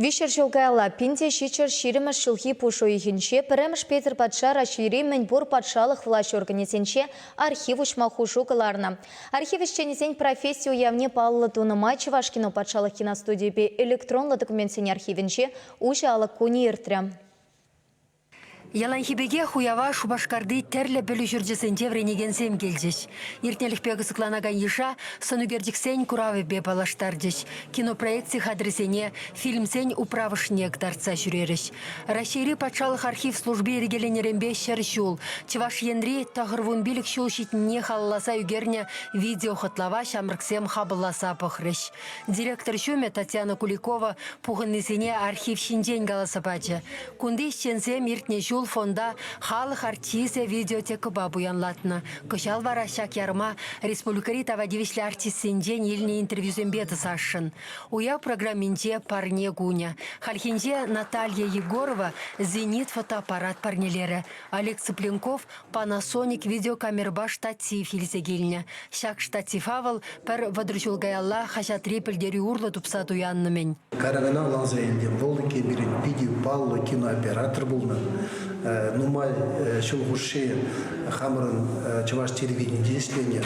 Виҫҫӗр ҫул каялла пин те ҫиччӗр ҫирӗммӗш ҫулхи пуш уйӑхӗнче пӗрремӗш Петӗр патша Раҫҫейри мӗнпур патшалӑх влаҫ органӗсенче архив уҫма хушу кӑларнӑ. Архив ӗҫченӗсен професси уявне паллӑ тунӑ май Чӑваш кино патшалӑх киностудийӗпе электронлӑ документсен архивӗнче уҫӑ алӑк кунӗ иртрӗ. Яланхи пекех уява Шупашкарти тӗрлӗ пӗлӳ ҫурчӗсенче вӗренекенсем килчӗҫ. Иртнӗлӗхпе кӑсӑкланакан йыша сӑнӳкерчӗксен куравӗпе паллаштарчӗҫ, кинопроект хатӗрӗсене, фильмсен управӑшне кӑтартса ҫӳрерӗҫ. Раҫҫейри патшалӑх архив служби йӗркеленӗренпе ҫӗр ҫул, Чӑваш Енри тӑхӑрвун пилӗк ҫул ҫитнине халалласа ӳкернӗ видеохӑтлава ҫамрӑксем хапӑлласа пӑхрӗҫ. Директор ҫумӗ Татьяна Куликова пухӑннисене архив ҫинчен каласа пачӗ. Кунти ӗҫченсем иртнӗ ҫул фонда халӑх артисчӗ видеотекӑпа пуянлатнӑ. Кӑҫал вара ҫак ярма республикӑри тава тивӗҫлӗ артистсенчен илнӗ интервьюсемпе тӑсасшӑн. Уяв программинче парне кунӗ. Хальхинче Наталья Егорова «Зенит» фотоаппарат парнелерӗ. Олег Цыпленков Panasonic видеокамерӑпа штатив илсе килнӗ. Ҫак штатива вӑл пӗр вӑтӑр ҫул каялла хаҫатри пӗлтерӳ урлӑ тупса туяннӑ-мӗн. Карагана ларса илтӗм, вӑл текенрен питӗ паллӑ кинооператор пулнӑ. Нумай ҫул хушши хамӑрӑн чӑваш телевиденийӗнче ӗҫленӗ.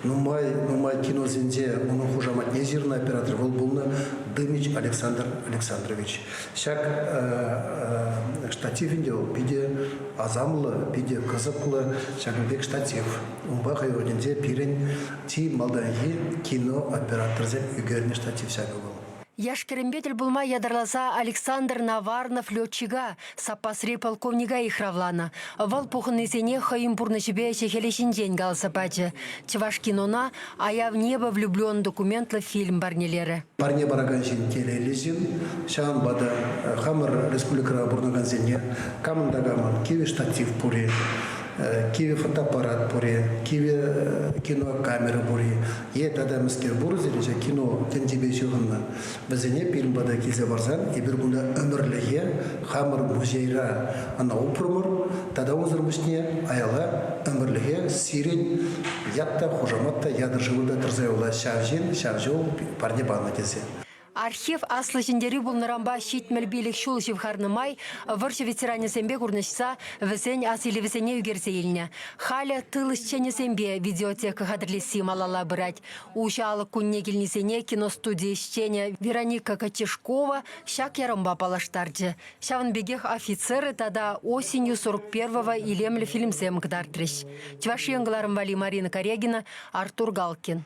Нумай, нумай киносенче унӑн хушаматне ҫырнӑ оператор вӑл пулнӑ Дымич Александр Александрович. Ҫак э, э, штатив ӗнтӗ вӑл питӗ асамлӑ, питӗ кӑсӑклӑ, ҫакӑн пек штатив. Унпа хӑй орденсе пирӗн чи малтанхи кино операторсем ӳкернӗ штатив ҫакӑ вӑл. Яш-кӗрӗмпе тӗл пулма ятарласа Александр Наварнов летчика, саппасри полковника йыхравланӑ. Вӑл пухӑннисене хӑйӗн пурнӑҫӗпе ӗҫӗ-хӗлӗ ҫинчен каласа пачӗ. Чӑваш кинона «Аяв небо влюблен» документлӑ фильм парнелерӗ. Парне паракан ҫын телейлӗ ҫын. Ҫавӑнпа та хамӑр республикӑра пурӑнакансене камӑн та камӑн кивӗ штатив пур-и, кивӗ фотоаппарат пур-и, кивӗ кинокамера пур-и, Е тата мӗскер пурӑсӑр-и ҫак кино тӗнчипе ҫыхӑннӑ? Вӗсене пирӗн пата килсе парсан эпир кунта ӗмӗрлӗхе хамӑр музейра ӑна упрӑмӑр тата унсӑр пуҫне аяла ӗмӗрлӗхе сирӗн ят та, хушамат та, ятӑр-шывӑр та тӑрса юлать ҫав ҫын, ҫав ҫул парне панӑ тесе. Архив Аслӑ Ҫӗнтерӳ пулнӑранпа ҫитмӗл пилӗк ҫул ҫывхарнӑ май вӑрҫӑ ветеранӗсемпе курнӑҫса вӗсен асилӗвӗсене ӳкерсе илнӗ. Халӗ тыл ӗҫченӗсемпе видеотека хатӗрлесси малалла пырать. Уҫӑ алӑк кунне килнисене киностуди ӗҫченӗ Вероника Кочешкова ҫак ярӑмпа паллаштарчӗ. Ҫавӑн пекех офицеры тата осенью 41-го илемлӗ фильмсем кӑтартрӗҫ. Чӑваш Ен кӑларӑмвали Марина Корягина, Артур Галкин.